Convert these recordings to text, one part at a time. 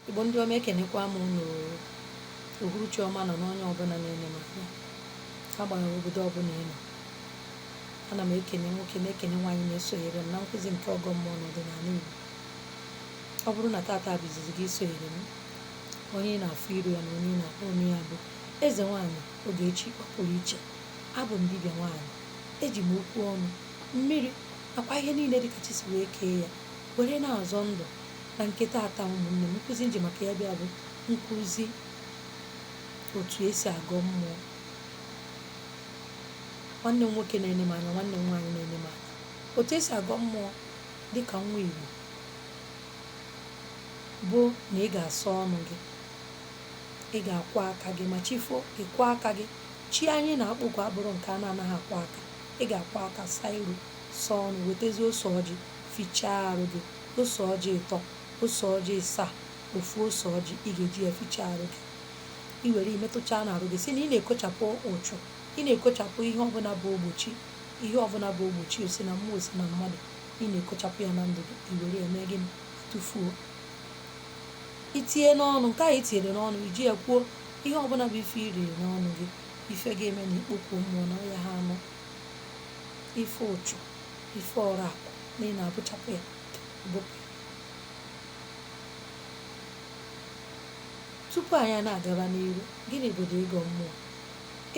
Igbo ndị ọma ekenekwa m unu uhuruchi ọma nụ onye ọbụla na-ene m anya agbanyeghị obodo ọbụla ị nọ ana m ekene nwoke na-ekene nwaanyị na-esonyere m na nkụzi nke ọgọ mmụọ n'ọdịnala Igbo ọ bụrụ na tata bụ izizi gị isonyere m onye ị na-afụ iru ya na onye ị na-akpọ onye ya bụ eze nwaanyị Ogechi Ọpụrụiche abụ m dibịa nwaanyị eji m okwu ọnụ mmiri nakwa ihe niile dịka chi si wee kee ya were na-azọ ndụ na nke taata ụmụnne m nkụzi nji maka ya bịa bụ nkụzi otu esi agọ mmụọ nwanne m nwoke na-ene m anya nwanne m nwaanyị na-ene m anya otu esi agọ mmụọ dịka nwa igbo bụ na ị ga-asa ọnụ gị ị ga-akwọ aka gị ma chi fo ị kwọọ aka gị chi anyị na-akpọku abụrọ nke a na-anaghị akwọ aka ị ga-akwọ aka saa iru saa ọnụ wetazie ose ọjị fichaa arụ gị ose ọjị ịtọ, ose ọjị ịsaa, ofu ose ọjị ị ga-eji ya fichaa arụ gị i were metụchaa n'arụ gị sị na ị na-ekochapụ uchu ị na-ekochapụ ihe ọbụla bụ ogbochi ihe ọbụla bụ ogbochi o si na mmụọ o si na mmadụ ị na-ekochapụ ya na ndụ gị i were ya mee gịnị tụfuo i tinye n'ọnụ nke ahụ i tinyere n'ọnụ i ji ya kwuo ihe ọbụla bụ ife i riri n'ọnụ gị ife ga-eme na i kpokuo mmụọ na ọ yaha anụ ife uchu ife ọrụ akwụ na ị na-abụchapụ ya bụpụ ya tupu anyị na-agaba n'iru gịnị bụdụ ịgọ mmụọ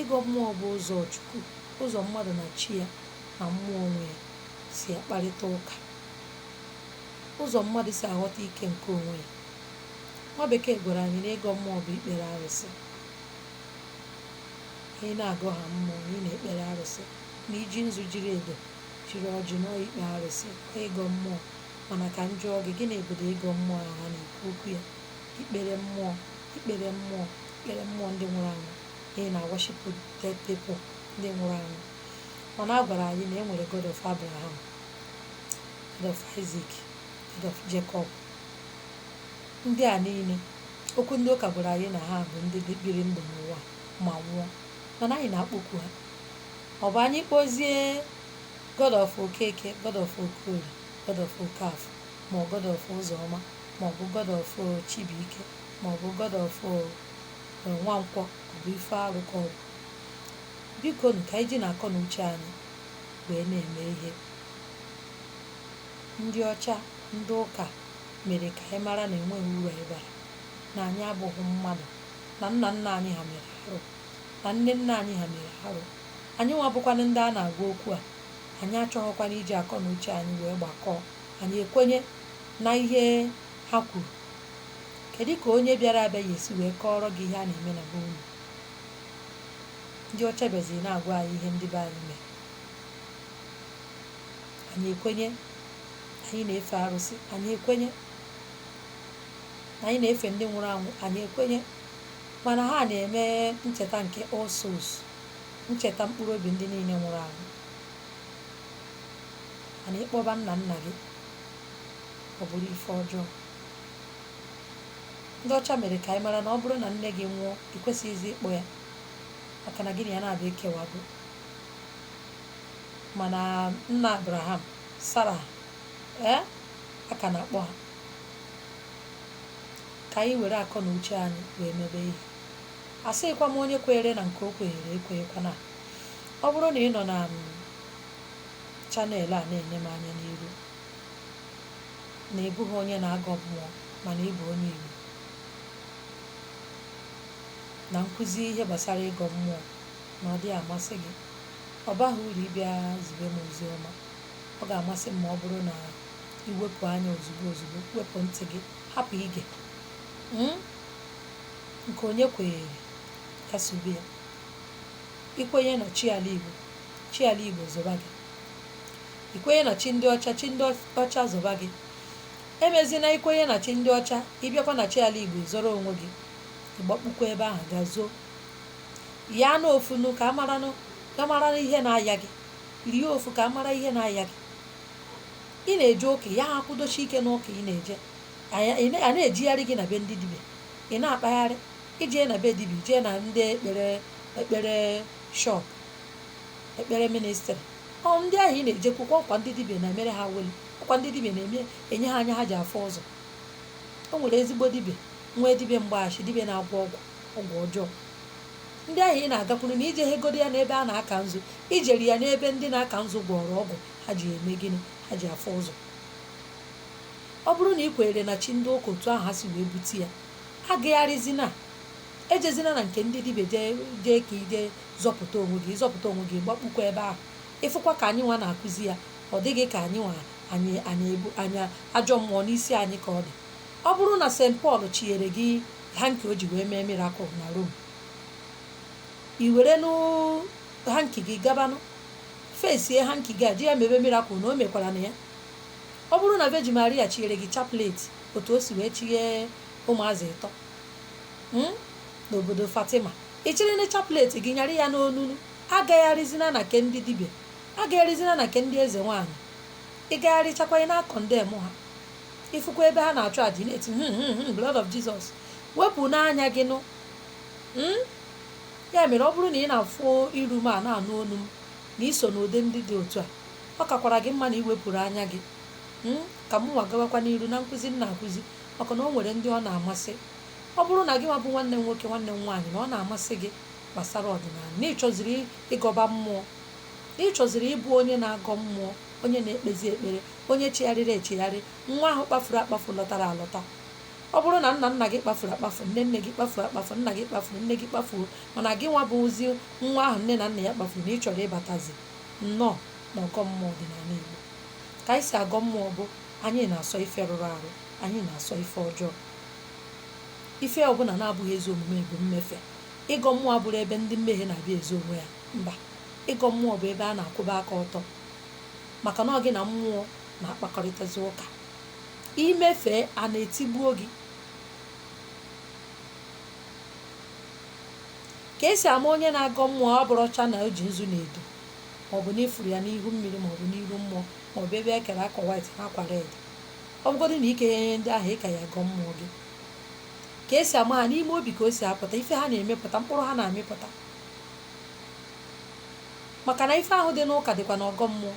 ịgọ mmụọ bụ ụzọ chukwu ụzọ mmadụ na chi ya na mmụọ onwe ya si akparịta ụka ụzọ mmadụ si aghọta ike nke onwe ya nwa bekee gwara anyị na ịgọ mmụọ bụ ikpere arụsị na ị na-agọ ha mmụọ na ị na-ekpere arụsị na iji nzu jiri edo jiri ọjị na ọ ikpe arụsị ọ ịgọ mmụọ mana ka m jụọ gị gịnị bụdụ ịgọ mmụọ ahụ ha na-ekwu okwu ya ikpere mmụọ ikpere mmụọ ikpere mmụọ ndị nwụrụ anwụ na ị na-aworship dead people ndị nwụrụ anwụ mana a gwara anyị na e nwere God of Abraham God of Isaac God of Jacob ndị a niile ọkwa ndị ụka gwara anyị na ha bụ ndị biri ndụ n'ụwa ma nwụọ mana anyị na-akpọku ha ọ bụ anyị kpọzie God of Okeke God of Okorie God of Okafọ ma ọ God of Ụzọma ma ọ bụ God of Chibuike ma ọ bụ God of Nwankwọ ọ bụ ife arụ ka ọ bụ biko nụ ka anyị jinụ akọ na uche anyị wee na-eme ihe ndị ọcha ndị ụka mere ka anyị mara na enweghị uru anyị bara na anyị abụghị mmadụ na nna nna anyị ha mere arụ na nne nna anyị ha mere arụ anyị nwa bụkwanụ ndị a na-agwa okwu a anyị achọghịkwana iji akọ na uche anyị wee gbakọọ anyị ekwenye na ihe ha kwuru kedu ka onye bịara abịa ya esi wee kọọrọ gị ihe a na-eme na be unu ndị ọcha bịaziri na-agwa anyị ihe ndị be anyị mere anyị ekwenye anyị na-efe arụsị anyị ekwenye na anyị na-efe ndị nwụrụ anwụ anyị ekwenye mana ha na-eme ncheta nke All Souls ncheta mkpụrụ obi ndị niile nwụrụ anwụ mana ịkpọba nna nna gị ọ bụrụ ife ọjọọ ndị ọcha mere ka anyị mara na ọ bụrụ na nne gị nwụọ ị kwesịghịzi ịkpọ ya maka na gị na ya naabọ ekewago mana nna abraham sara ee a ka na-akpọ ha ka anyị were akọ na uche anyị wee mebe ihe asịghịkwa m onye kweere na nke o kweere ekwenyekwana ọ bụrụ na ị nọ na channel a na-ene m anya n'iru na ị bụghị onye na-agọ mmụọ mana ị bụ onye Igbo na nkụzi ihe gbasara ịgọ mmụọ na ọ dịghị amasị gị ọ baghị uru ịbịa zibe m ozi ọma ọ ga-amasị m ma ọ bụrụ na i wepụ anya ozugbo ozugbo wepụ ntị gị hapụ ige hmm? nke onye kwenyere ya sobe ya i kwenye na chi ala igbo chi ala igbo zọba gị i kwenye na chi ndị ọcha chi ndị ọcha zọba gị emezina i kwenye na chi ndị ọcha ị bịakwa na chi ala igbo zọrọ onwe gị ị gbakpukwa ebe ahụ ga zoo ya na ofunu ka a mara ihe na-aya gị rie ofu ka a mara ihe na-aya gị ị na-eje ụka ya-akwụdosi ike n'ụka ị na-eje a na-ejigharị gị na be ndị dibịa ị na-akpagharị i jee na be dibịa i jee na ndị ekpere ekpere shop ekpere ministry ọ ndị ahụ ị na-ejekwukwa ọkwa ndị dibịa na-emere ha weli ọkwa ndị dibịa na-eme enye ha anya ha ji afụ ụzọ o nwere ezigbo dibịa nwee dibịa mgbaghachi dibịa na-agwọ ọgwụ ọgwụ ọjọọ ndị ahụ ị na-agakwuru na i jeghịgodi ya n'ebe a na-aka nzu i jeri ya n'ebe ndị na-aka nzu gwọrọ ọgwụ ha ji eme gịnị ha ji afụ ụzọ ọ bụrụ na ị kwenyere na chi ndị ụka otu ahụ ha si wee bute ya agagharịzina ejezina na nke ndị dibịa jee jee ka i je zọpụta onwe gị ị zọpụta onwe gị gbakpukwa ebe ahụ ị fụkwa ka anyị nwa na-akụzi ya ọ dị gị ka anyị nwa anyị anyị ebu anya ajọ mmụọ n'isi anyị ka ọ dị ọ bụrụ na St Paul chinyere gị hanky o ji wee mee miracle na Rome i werenụ hanky gị gabanụ fesie hanki gị a ji ya mebe mirakụl na o mekwara na ya ọ bụrụ na vejin maria chinyere gị chaplet otu o si wee chinye ụmụazị ịtọ mm, n'obodo fatima ị chịrịnụ chaplet gị nyara ya n'onu nụ agagharịzina na nke ndị dibịa agagharịzina na nke ndị eze nwaanyị ị gagharịchakwa ị na-akọndem ha ị fụkwa ebe ha na-achụ aja ị na-eti "Hmm, hmm, hmm, blood of jesus wepụnụ anya gị nụ Mm? ya mere ọ bụrụ na ị na-afụ iru m a na-anụ olu m na i so n'ụdị ndị dị otu a ọ kakwara gị mma na i wepụrụ anya gị hmm, ka mụnwa gawakwa n'iru na nkụzi m na-akụzi maka na o nwere ndị ọ na-amasị ọ bụrụ na gị nwa bụ nwanne m nwoke nwanne m nwaanyị na ọ na-amasị gị gbasara ọdịnala na ị chọziri ịgọba mmụọ na ị chọziri ịbụ onye na-agọ mmụọ onye na-ekpezi ekpere onye chigharịrị echigharị nwa ahụ kpafuru akpafu lọtara alọta ọ bụrụ na nna nna gị kpafuru akpafu nne nne gị kpafuru akpafu nna gị kpafuru nne gị kpafuo mana gị nwa bụzi nwa ahụ nne na nna ya kpafuru na ị chọrọ ịbatazi nnọọ na ọgọ mmụọ ọdịnala Igbo ka anyị si agọ mmụọ bụ anyị na-asọ ife rụrụ arụ anyị na-asọ ife ọjọọ ife ọbụla na-abụghị ezi omume bụ mmefe ịgọ mmụọ abụrọ ebe ndị mmehie na-abịa ezo onwe ya mba ịgọ mmụọ bụ ebe a na-akwụba aka ọtọ maka na ọ gị na mmụọ na-akpakọrịtazi ụka i mefee a na-etigbuo gị ka e si ama onye na-agọ mmụọ ọ bụrọcha na o ji nzu na edo maọbụ na ị fụrụ ya n'ihu mmiri maọbụ n'iru mmụọ maọbụ ebe e kere akwa white na akwa red ọ bụgodị na i kee ihe ndị ahụ ị ka ya-agọ mmụọ gị ka e si ama ha n'ime obi ka o si apụta ife ha na-emepụta mkpụrụ ha na-amịpụta maka na ife ahụ dị n'ụka dịkwa n'ọgọ mmụọ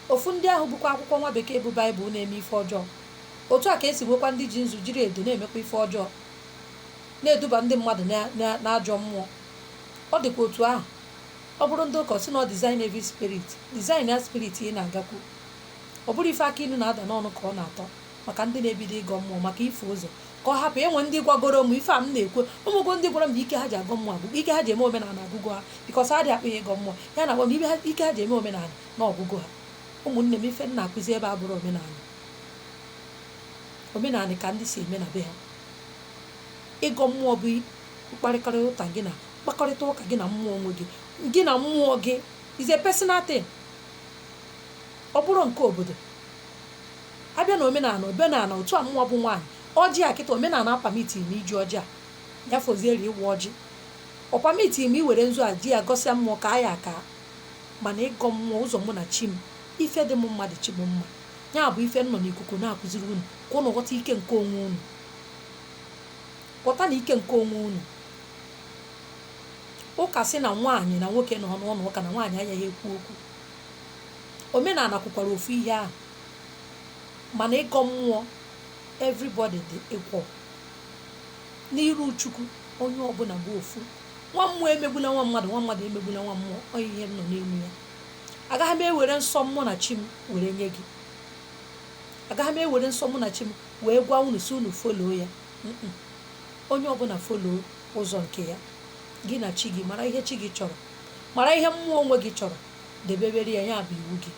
Ofu ndị ahụ bukwa akwụkwọ nwa bekee bụ Baịbụl na-eme ife ọjọọ. Otu a ka e si nweekwa ndị ji nzu jiri edo na-emekwa ife ọjọọ, na-eduba ndị mmadụ na- na- n'ajọ mmụọ. Ọ dịkwa otu ahụ, ọ bụrụ ndị ụka, ọ sị na ọ discern every spirit, discern ya spirit ị na-agakwu. Ọ bụrọ ife akị inu na-ada n'ọnụ ka ọ na-atọ maka ndị na-ebido ịgọ mmụọ, maka ifie ụzọ, ka ọ hapụ enwe ndị gwagoro m ife a m na-ekwu. O nwego ndị gwara m na ike ha ji agọ mmụọ agwụgo, ike ha ji eme omenala agwụgo ha because ha adịghị akpọ ya ịgọ mmụọ. Ya na-agwa m na ike ha- ike ha ji eme omenala na ọ gwụgo ha ụmụnne m ife m na-akụzi ebe a abụrọ omenala omenala ka ndị si eme na be ha ịgọ mmụọ bụ mkparịkọrịta ụka gị na mkpakọrịta ụka gị na mmụọ onwe gị gị na mmụọ gị is a personal thing ọ bụrọ nke obodo a bịa na omenala omenala otu a mụ bụ nwaanyị ọjị a kịta omenala apamitighị m iji ọjị a ya fozieri ịwa ọjị ọ pamitighị m iwere nzu a ji ya gọsịa mmụọ kaa ya aka mana ịgọ mmụọ ụzọ mụ na chi m ife dị m mma dị chi m mma ya bụ ife m nọ n'ikuku na-akụziri unu ka unu ghọta ike nke onwe unu ghọta na ike nke onwe unu ụka sị na nwaanyị na nwoke nọ n'ụnọ ụka na nwaanyị agaghị ekwu okwu omenala kwukwara ofu ihe ahụ mana ịgọ mmụọ everybody dị equal n'iru chukwu onye ọbụla bụ ofu nwa mmụọ emegbula nwa mmadụ nwa mmadụ emegbula nwa mmụọ ọ ihe m nọ n'elu ya agaghị m ewere nsọ mụ na chi m were nye gị agaghị m ewere nsọ mụ na chi m wee gwa unu sị unu foloo ya Mm-mm. onye ọbụla foloo ụzọ nke ya gị na chi gị mara ihe chi gị chọrọ mara ihe mmụọ onwe gị chọrọ debebere ya ya bụ iwu gị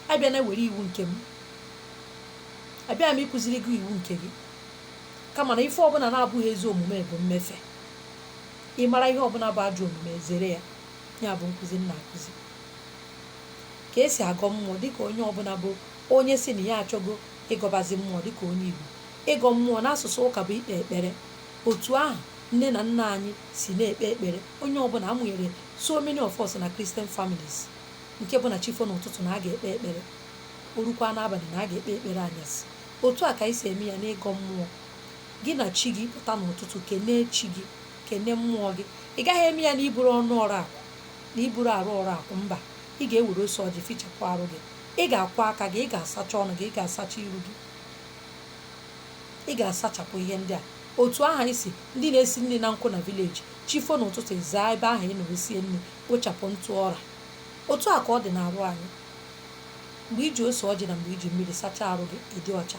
abịana were iwu nke m abịa m ịkụziri gị iwu nke gị kama na ife ọbụla na-abụghị ezi omume bụ mmefe ị mara ihe ọbụla bụ ajọ omume zere ya ya bụ nkụzi m na-akụzi ka esi agọ mmụọ dịka onye ọbụla bụ onye sị na ya achọgo ịgọbazi mmụọ dịka onye Igbo ịgọ mmụọ n'asụsụ ụka bụ ikpe ekpere otu ahụ nne na nna anyị si na-ekpe ekpere onye ọbụla a mụnyere so many of us na Christian families nke bụ na chi fo n'ụtụtụ na a ga-ekpe ekpere o rukwa n'abalị na a ga-ekpe ekpere anyasị otu a ka anyị si eme ya n'ịgọ mmụọ Gị na chi gị pụta n'ụtụtụ kenee chi gị, kene mmụọ gị. Ị gaghị eme ya n'iburu ọnụ ọrụ akụ na iburu arụ ọrụ akụ. Mba, ị ga-ewere ose ọjị fichapụ arụ gị. Ị ga-akwọ aka gị, ị ga-asacha ọnụ gị, ị ga-asacha iru gị. Ị ga-asachapụ ihe ndị a. Otu ahụ anyị si ndị na-esi nri na nkụ na vileji, chi fo n'ụtụtụ ị zaa ebe ahụ ị nọrọ sie nri, kpochapụ ntụ ọra. Otu a ka ọ dị n'arụ anyị. Mgbe i ji ose ọjị na mgbe i ji mmiri sachaa arụ gị, ị dị ọcha.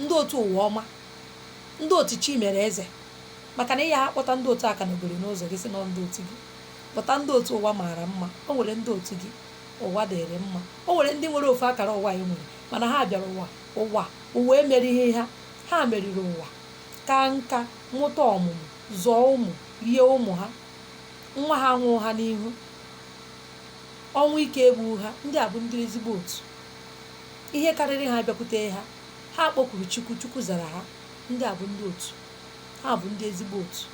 ndị otu ụwa ọma ndị otu chi mere eze maka na ị ya-akpọta ndị otu akanogori n'ụzọ gị sị na ọ ndị otu gị kpọta ndị otu ụwa maara mma o nwere ndị otu gị ụwa dịrị mma o nwere ndị nwere ofu akara ụwa anyị nwere mana ha bịara ụwa ụwa emerighị ha ha meriri ụwa kaa nka mụta ọmụmụ zụọ ụmụ rie ụmụ ha nwa ha anwụghị ha n'ihu ọnwụ ike egbughị ha ndị a bụ ndị ezigbo otu Ihe karịrị ha bịakwute ha, ha kpọkuru Chukwu, Chukwu zara ha. Ndị a bụ ndị otu. Ha bụ ndị ezigbo otu.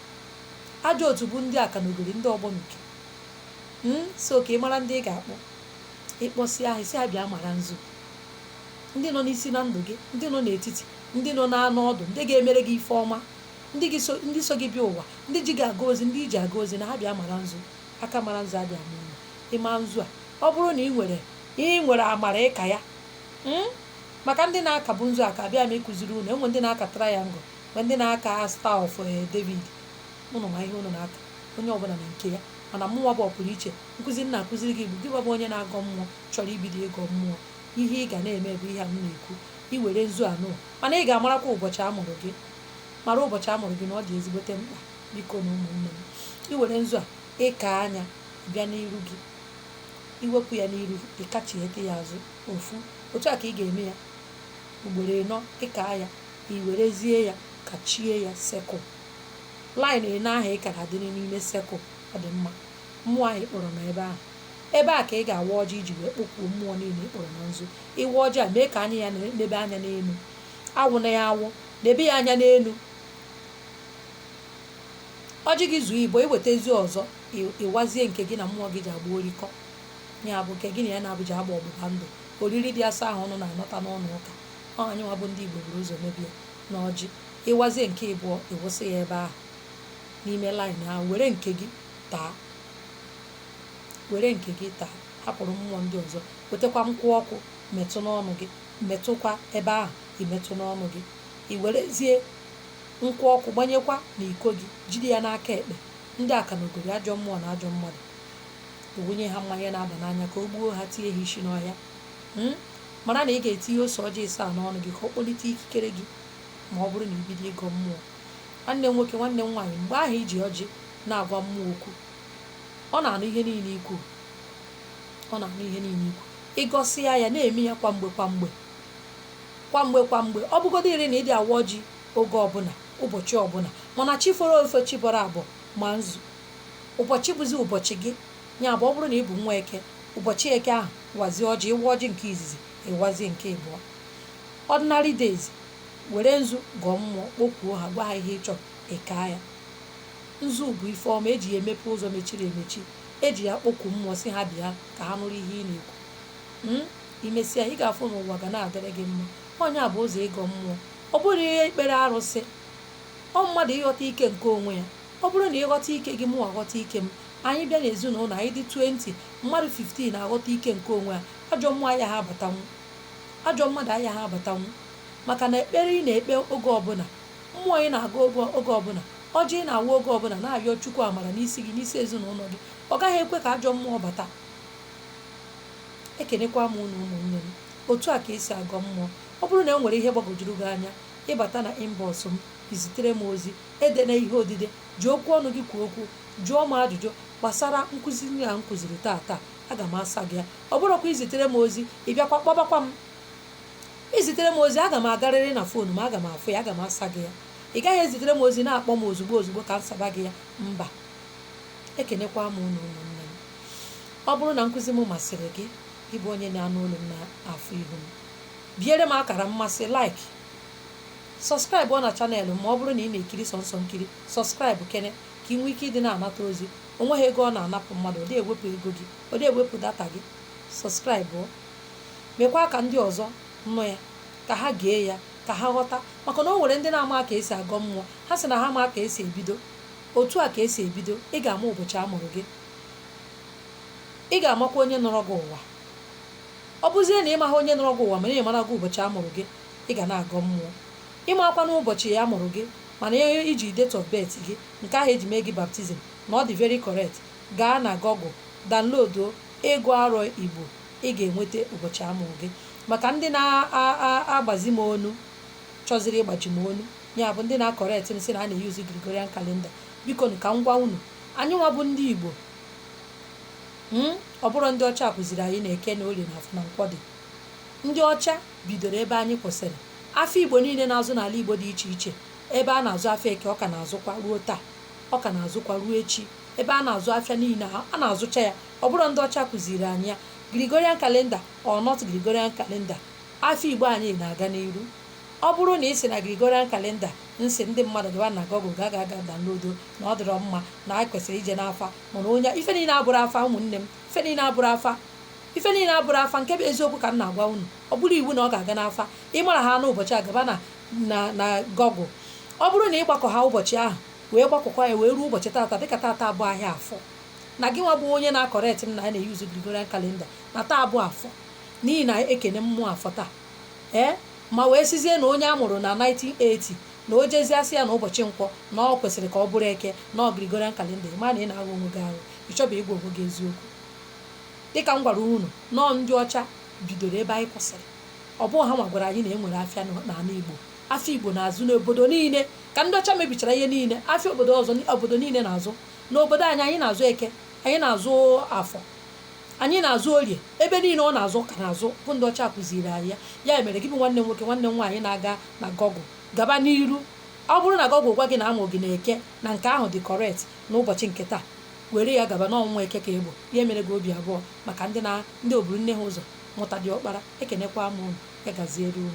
Ajọ otu bụ ndị akanogori, ndị ogbonuke. Mm, so ka ị mara ndị ị ga-akpọ. Ị kpọsịa ha, ị sị ha bịa mara nzu. Ndị nọ n'isi na ndụ gị, ndị nọ n'etiti, ndị nọ n'anụ ọdụ, ndị ga-emere gị ife ọma, ndị so gị bịa ụwa, ndị ji gị aga ozi, ndị i ji aga ozi na ha bịa mara nzu. Aka mara nzu adịghị ama ụla. Ị maa nzu a, ọ bụrụ na ị nwere Ị nwere amara ịka ya. Hmm? Maka ndị na-akabu nzu aka abịa m ịkụziri unu enwe ndị na-aka triangle enwe ndị na-aka star of eh, David ụnụ ma ihe ụnụ na-aka onye ọbụla na nke ya mana mụnwa bụ ọpụrụ iche nkụzi m na-akụziri gị bụ gị bụ onye na-agọ mmụọ chọrọ ibido ịgọ mmụọ ihe ị ga na-eme bụ ihe a m na-ekwu iwere nzu anọ mana ị ga-amarakwa ụbọchị a mụrụ gị mara ụbọchị a mụrụ gị na ọ dị ezigbote mkpa biko na ụmụnne m iwere nzu a ịka anya bịa n'iru gị iwepụ ya n'iru ịkachiete ya azụ ofu otu a ka ị ga-eme ya ugboro ịnọ ịka ya iwerezie ya kachie ya circle line ịnọ ahụ ị kara adịrị n'ime circle ọ dị mma mmụọ ahụ ịkpọrọ na ebe ahụ ebe a ka ị ga-awa ọjị iji wee kpọkwuo mmụọ niile ịkpọrọ na nzu ịwa ọjị a mee ka anya ya nebe anya n'elu awụna ya awụ nebe ya anya n'elu ọjị gị zuo ịbụọ iwetazi ọzọ ịwazie nke gị na mmụọ gị ji agba orikọ ya bụ nke gị na ya naabọ ji agba ọgbụgba ndụ oriri dị asọ ahụ unu na-anata n'ụlọ ụka ọ anyị nwa bụ ndị Igbo buru ụzọ mebe ya na ọjị ịwazie nke ịbụọ ịwụsa ya ebe ahụ n'ime line ahụ were nke gị taa were nke gị taa hapụrụ mmụọ ndị ọzọ wetakwa nkwụ ọkụ metụ n'ọnụ gị metụkwa ebe ahụ imetụ n'ọnụ gị i werezie nkwụ ọkụ gbanyekwa n'iko gị jide ya n'aka ekpe ndị akanogori ajọ mmụọ na ajọ mmadụ ewunye ha mmanya na-aba n'anya ka o gbuo ha tinye ha isi n'ọhịa hmm? mara na ị ga-etinye ose ọjị ịsaa n'ọnụ gị ka ọ kpọlite ikikere gị ma ọ bụrụ na ibido ịgọ mmụọ nwanne m nwoke nwanne m nwaanyị mgbe ahụ iji ọjị na-agwa mmụọ okwu ọ na-anụ ihe niile ikwu ọ na-anụ ihe niile ikwu ịgọsịa ya na-eme ya kwa mgbe kwa mgbe kwa mgbe kwa mgbe ọ bụgodo iri na ịdị awa ọjị oge ọbụla ụbọchị ọbụla mana chi foro efo chi bọrọ abọ ma nzu ụbọchị bụzi ụbọchị gị ya bụ ọ bụrụ na ị bụ nwa eke ụbọchị eke ahụ wazie ọjị ịwa ọjị nke izizi ịwazie nke ịbụọ ordinary days were nzu gọọ mmụọ kpokwuo ha gwa ha ihe ị chọrọ ịka ya nzu bụ ife ọma eji ya emepe ụzọ mechiri emechi eji ya kpokwu mmụọ si ha bịa ka ha nụrụ ihe ị na-ekwu Hmm? imesịa ị ga-afụ na ụwa ga na-adịrị gị mma ọ nya bụ ụzọ ịgọ mmụọ Ọ bụrọ ihe ikpere arụsị, ọ mmadụ ịghọta ike nke onwe ya. Ọ bụrụ na ịghọta ike gị, mụnwa ghọta ike m. Anyị bịa n'ezinụlọ, anyị dị 20, mmadụ 15 aghọta ike nke onwe ha, ajọ mmụọ ayaghị abatanwu. Ajọ mmadụ ayaghị abatanwu. Maka na ekpere ị na-ekpe oge ọbụla, mmụọ ị na-agọ oge ọbụla, ọjị ị na-awa oge ọbụla na-ayọ Chukwu amara n'isi gị, n'isi ezinụlọ gị, ọ gaghị ekwe ka ajọ mmụọ bata. Ekenekwa m unu ụmụnne m. Otu a ka e si agọ mmụọ. Ọ bụrụ na e nwere ihe gbagwojuru gị anya, ị bata na inbox m, i zitere m ozi, edena ihe odide, ji okwu ọnụ gị kwuo okwu, jụọ m ajụjụ gbasara nkụzi niile a m kụziri taata. Aga m asa gị ya. Ọ bụrụkwa i zitere m ozi, ị bịakwa kpọbakwa m. I zitere m ozi, aga m agarịrị na fon m, aga m afụ ya, aga m asa gị ya. Ị gaghị ezitere m ozi na-akpọ m ozugbo ozugbo ka m saba gị ya. Mba. Ekenekwa m unu ụmụnne m. Ọ bụrụ na nkụzi m masịrị gị, gị bụ onye na-anụ olu m na-afụ ihu m, biere m akara mmasị like sọskraịbụ na chanel m a ọ bụrụ na ị na-ekiri sọnsọ nkiri sọskraịbụ kene ka ị nwee ike ịdị na-anata ozi o nweghị ego ọ na-anapụ mmadụ ọ dị ewepụ ego gị ọ dị ewepụ data gị sọskraịbụ mekwa ka ndị ọzọ nụ ya ka ha gee ya ka ha ghọta maka na o nwere ndị na-amaha ka e si agọ mmụọ ha sị na ha amaha ka e si ebido otu a ka e si ebido ị ga-ama ụbọchị a mụrụ gị ị ga-amakwa onye nọrọ gị ụwa Ọ bụzie na ị maghị onye nọrọ gị ụwa mana ị mara gị ụbọchị a mụrụ gị, ị ga na-agọ mmụọ. Ị makwanụ ụbọchị a mụrụ gị mana ị ji date of birth gị, nke ahụ e ji mee gị baptizim, na ọ dị very correct, gaa na Google download Ịgụ Arọ Igbo, ị ga-enweta ụbọchị a mụrụ gị. Maka ndị na-agbazi m onu, chọziri ịgbaji m onu, ya bụ ndị na-correct m sị na a na-eyuzu Gregorian calendar, bikonụ ka m gwa unu, anyịnwa bụ ndị Igbo, Hmm? Ọ bụrụ ndị ọcha kụziri anyị na eke na orie na afọ na nkwọ dị. Ndị ọcha bidoro ebe anyị kwụsịrị. Afịa Igbo niile na-azụ n'ala Igbo dị iche iche. Ebe a na-azụ afịa eke ọ ka na-azụkwa ruo taa. Ọ ka na-azụkwa ruo echi. Ebe a na-azụ afịa niile a na-azụcha ya. Ọ bụrụ ndị ọcha kụziri anyị ya. Gregorian calendar or not Gregorian calendar. Afịa Igbo anyị na-aga n'iru. Ọ bụrụ na ị sị na Gregorian calendar m sị ndị mmadụ gaba na Google ga ga ga download na ọ dịrọ mma na anyị kwesịrị ije n'afa mana onye ife niile abụrụ afa ụmụnne m ife niile abụrụ afa ife niile abụrụ afa nke bụ eziokwu ka m na-agwa unu ọ bụrụ iwu na ọ ga-aga n'afa ị mara ha n'ụbọchị a gaba na na na Google ọ bụrụ na ị gbakọ ha ụbọchị ahụ wee gbakọkwa ya wee ruo ụbọchị tata dịka tata bụ ahịa afọ na gị nwa bụ onye na-akọrekt m na a na-eyuzu Gregorian calendar na taa bụ afọ n'ihi na ekene mmụọ afọ taa ee ma wee sizie na onye a mụrụ na 1980 na o jezie asị ya na ụbọchị nkwọ na ọ kwesịrị ka ọ bụrụ eke na ọ Gregorian calendar ị ma na ị na-agha onwe gị ahụ ị chọba ịgwa onwe gị eziokwu dịka m gwara unu na ọ ndị ọcha bidoro ebe anyị kwụsịrị ọ bụghị ha nwa gwara anyị na e nwere afịa n'ala Igbo afịa Igbo na-azụ n'obodo niile ka ndị ọcha mebichara ihe niile afịa obodo ọzọ obodo niile na-azụ n'obodo anyị anyị na-azụ eke anyị na-azụ afọ Anyị na-azụ orie ebe niile ọ na-azụ ka na-azụ bụ ndị ọcha kụziiri anyị ya. Ya mere, gị bụ nwanne m nwoke, nwanne m nwaanyị na-aga na Google, gaba n'iru. Ọ bụrụ na Google gwa gị na a mụrụ gị n'Eke, na nke ahụ dị correct n'ụbọchị nke taa, were ya gaba na ọ nwa Eke ka ị bụ. Ya emere gị obi abụọ maka ndị o buru nne ha ụzọ mụta diọkpara. Ekenekwa m unu. Ya gaziere unu.